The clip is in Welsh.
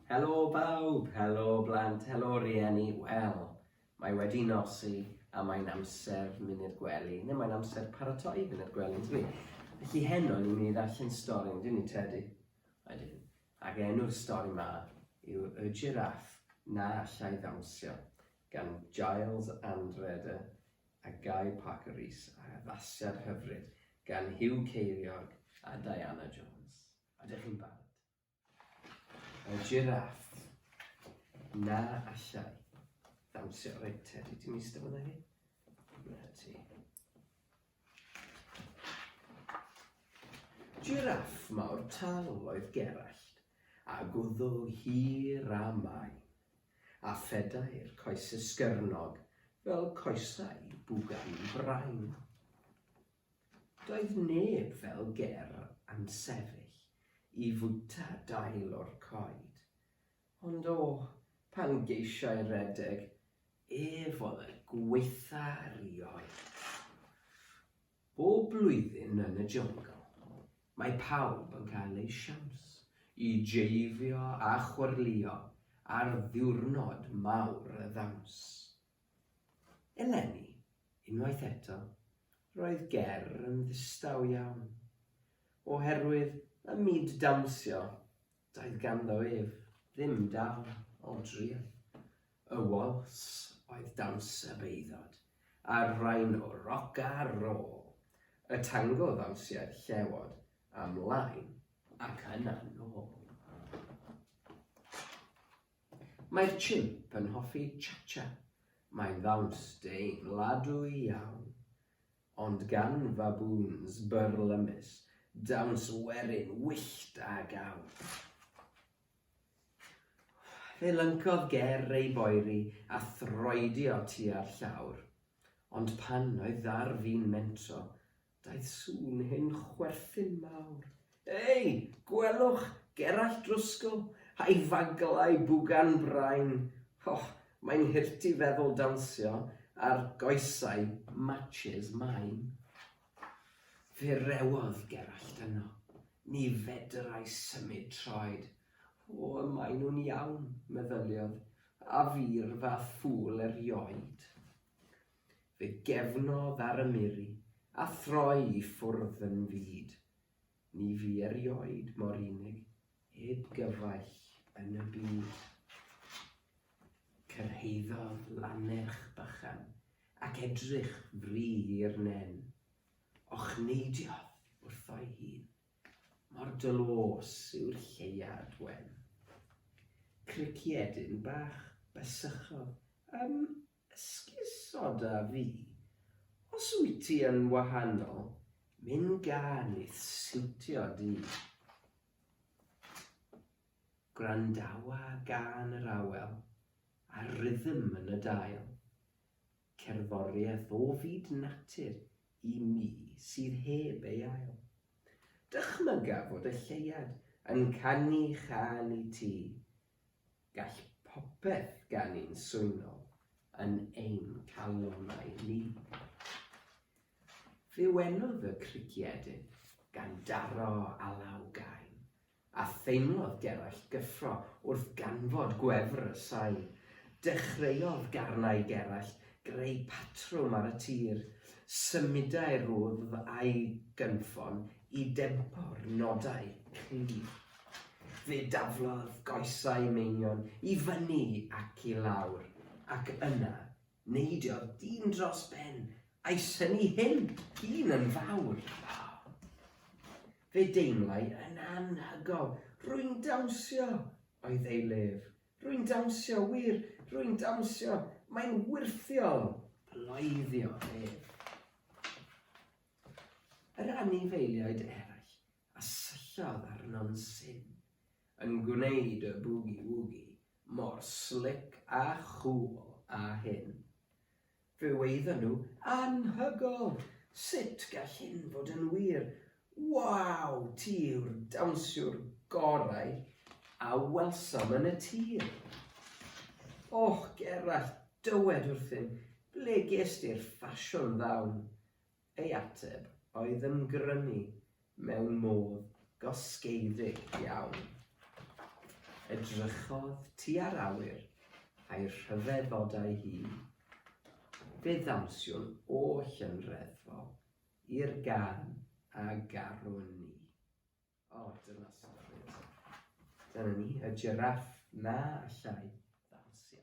Helo bawb, helo blant, helo rieni, wel, mae wedi nosi a mae'n amser munud gwely, neu mae'n amser paratoi munud gwely, dwi. Felly heno ni'n mynd i ddarllen stori, yn dyn ni tedi? Ydyn. Ac enw'r stori ma yw Y Giraff na allai ddawnsio, gan Giles Anrede, a Guy Parker Rees ar addasiad hyfryd gan Huw Ceiriog a Diana Jones. Ydych chi'n barod? Y jiraff. Na allai. Ddawnsio. Reit, Teddy, ti'n eistedd fyna hi? Na ti. Jiraff mawr tal oedd Gerallt, a gwddw hir a main. a phedair coes esgyrnog fel coesau bwgan brain. Doedd neb fel Ger yn sefyll i fwyta dail o'r coed, ond o, pan geisiai redeg, ef oedd y gwaetha 'rioed. Bob blwyddyn yn y Jungle, mae pawb yn cael eu siawns i jeifio a chwyrlïo ar ddiwrnod mawr y ddawns. Eleni, unwaith eto, roedd Ger yn ddistaw iawn, oherwydd ym myd dawnsio Doedd ganddo ef ddim darn o driath. Y wals oedd dawns y beudod, a'r rain o roc-a-rôl, y tango ddawnsiad llewod a mlaen ac yna nôl. Mae'r chimp yn hoffi cha-cha, mae'n ddawns deimladwy iawn. Ond gan faboons byrlymus, dawns werin wyllt a gawr. Fe lyncodd ger ei boeri a throedio tua'r llawr. Ond pan oedd ar fin mentro, daeth sŵn hen chwerthin mawr. Ei, gwelwch, Gerallt Drwsgl, a'i faglau bwgan brain! O, mae'n hurt i feddwl dawnsio ar goesau Matches Maen. Fe rewodd Gerallt yno. Ni fedrai symud troed. O, y maen nhw'n iawn, meddyliodd, a fi'r fath ffŵl erioed! Fe gefnodd ar y miri, a throi i ffwrdd yn fud. Ni fu erioed mor unig, heb gyfaill yn y byd. Cyrhaeddodd lannerch bychan, ac edrych fri i'r nen. Ochneidiodd wrtho'i hun, mor dlôs yw'r lleuad wen. Criciedyn bach bysychodd ym Esgusoda fi, os wyt ti yn wahanol, myn gân i'th siwtio di. Gwrandawa gân yr awel, a'r rhythm yn y dail. Cerddoriaeth o fyd natur i mi sydd heb ei ail. Dychmyga fod y lleuad yn canu chan i ti, Gall popeth ganu'n swynol yn ein calonnau ni. Fe wenodd y crugiadur gan daro alaw gain, a theimlodd Gerallt gyffro wrth ganfod gwefr y sain. Dechreuodd garnau Gerallt greu patrwm ar y tir. Symudai'r wddf a'i gynffon i dempo'r nodau clir. Fe daflodd goesau Meinion i fyny ac i lawr, ac yna neidiodd dyn dros ben, a'i synnu hyn un yn fawr. Fe deimlai yn anhygol, Rwy'n dawnsio! oedd ei lef. Rwy'n dawnsio, wir, rwy'n dawnsio! Mae'n wyrthiol! bloeddio ef. Yr anifeiliaid eraill a syllodd arno'n syn, yn gwneud y bwgi-wwgi mor slic a chŵl â hyn. Fe waeddan nhw, Anhygoel! Sut gall hyn fod yn wir? Waw! Ti yw'r dawnsiwr gorau a welsom yn y tir! Och, Gerallt, dywed wrthym, ble ges di'r ffasiwn ddawn? Ei ateb oedd yn grynu mewn modd gosgeiddig iawn. Edrychodd tua'r awyr a'i rhyfedd oda'i hun. Fe ddawnsiwn oll yn reddfol i'r gân a garwn ni. O, dyna stori. Dyna ni, y jiráff na allai ddawnsio.